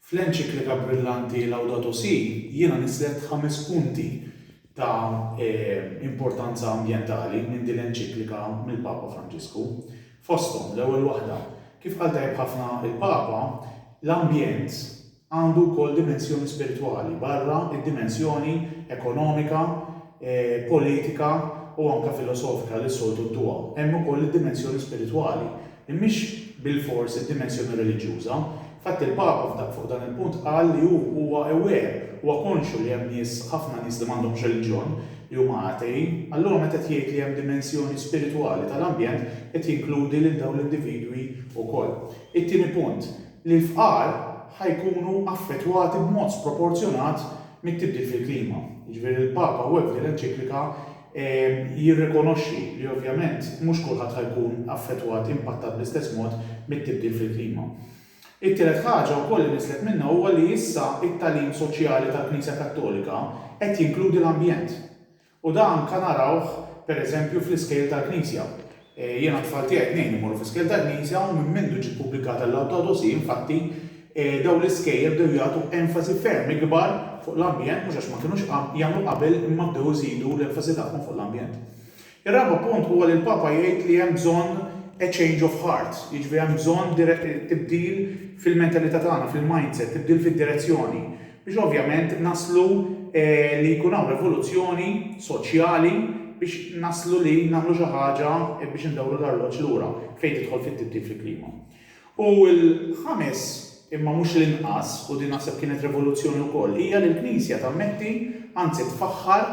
Fl-enċiklika brillanti Laudato Si jiena nisslet ħames punti ta' importanza ambjentali minn din l-enċiklika mill-Papa Franġisku. Fosthom, l-ewwel waħda, kif qal tajjeb ħafna l-Papa, l-ambjent għandu wkoll dimensjoni spiritwali barra d-dimensjoni ekonomika, politika u anke filosofika li s-soltu dduha. Hemm ukoll id-dimensjoni spiritwali, li mhix bilfors id-dimensjoni reliġjuża. Infatti l-Papa fuq dan il-punt qal li hu huwa aware, huwa konxju li hemm nies, ħafna nies li m'għandhomx reliġjon, li huma atei. Allura meta qed jgħid li hemm dimensjoni spiritwali tal-ambjent qed jinkludi lil dawn l-individwi wkoll. It-tieni punt, li l-fqar ħa jkunu affettwati b'mod sproporzjonat mit-tibdil fil-klima. Jiġifieri l-Papa hawnhekk f'din l-enċiklika jirrikonoxxi li ovvjament mhux kulħadd ħa jkun affettwat, impattat bl-istess mod mit-tibdil fil-klima. It-tielet ħaġa wkoll li niżlet minnha huwa li issa t-tagħlim soċjali tal-Knisja Kattolika qed jinkludi l-ambjent. U dan anke narawh, per eżempju, fl-iskejjel tal-Knisja. Jien għat-tfal tiegħi t-tnejn imorru fl-iskejjel tal-Knisja u minn mindu ġiet pubblikata l-Laudato Si, infatti, dawn l-iskejjel bdew jagħtu enfasi ferm ikbar fuq l-ambjent, mhux għax ma kinux jagħmlu qabel imma bdew iżidu l-enfasi tagħhom fuq l-ambjent. Ir-raba' punt huwa li l-Papa jgħid li hemm bżonn a change of heart, jiġifieri hemm bżonn tibdil fil-mentalità tagħna, fil-mindset, tibdil fid-direzzjoni. biex ovvjament naslu li jkun hawn revoluzzjoni soċjali biex naslu li nagħmlu xi ħaġa biex indawru l-arloġġ lura fejn tidħol fit-tibdil fil-klima. U l-ħames, imma mhux l-inqas, u din naħseb kienet revoluzzjoni wkoll, hija li l-Knisja tammetti, anzi tfaħħar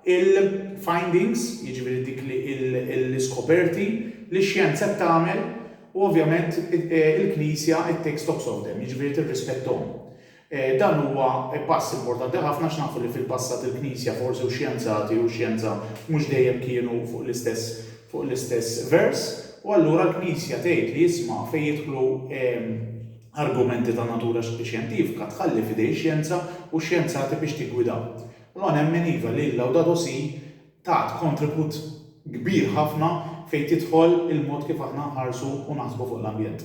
il-findings, jiġifieri dik l-iskoperti li x-xjenza qed tagħmel u ovvjament il-Knisja it-takes stocks of them, jiġifieri tirrispetthom. Dan huwa pass importanti ħafna għax nafu li fil-passat il-Knisja forsi u xjenzati u xjenza mhux dejjem kienu fuq l-istess fuq l-istess vers u allura l-Knisja tgħid li isma' fejn jidħlu argumenti ta' natura xjentifika tħalli f'idej ix-xjenza u x-xjenzati biex tiggwida. Allura nemmen iva li l-Laudato Si tat kontribut kbir ħafna fejn tidħol il-mod kif aħna nħarsu u naħsbu fuq l-ambjent.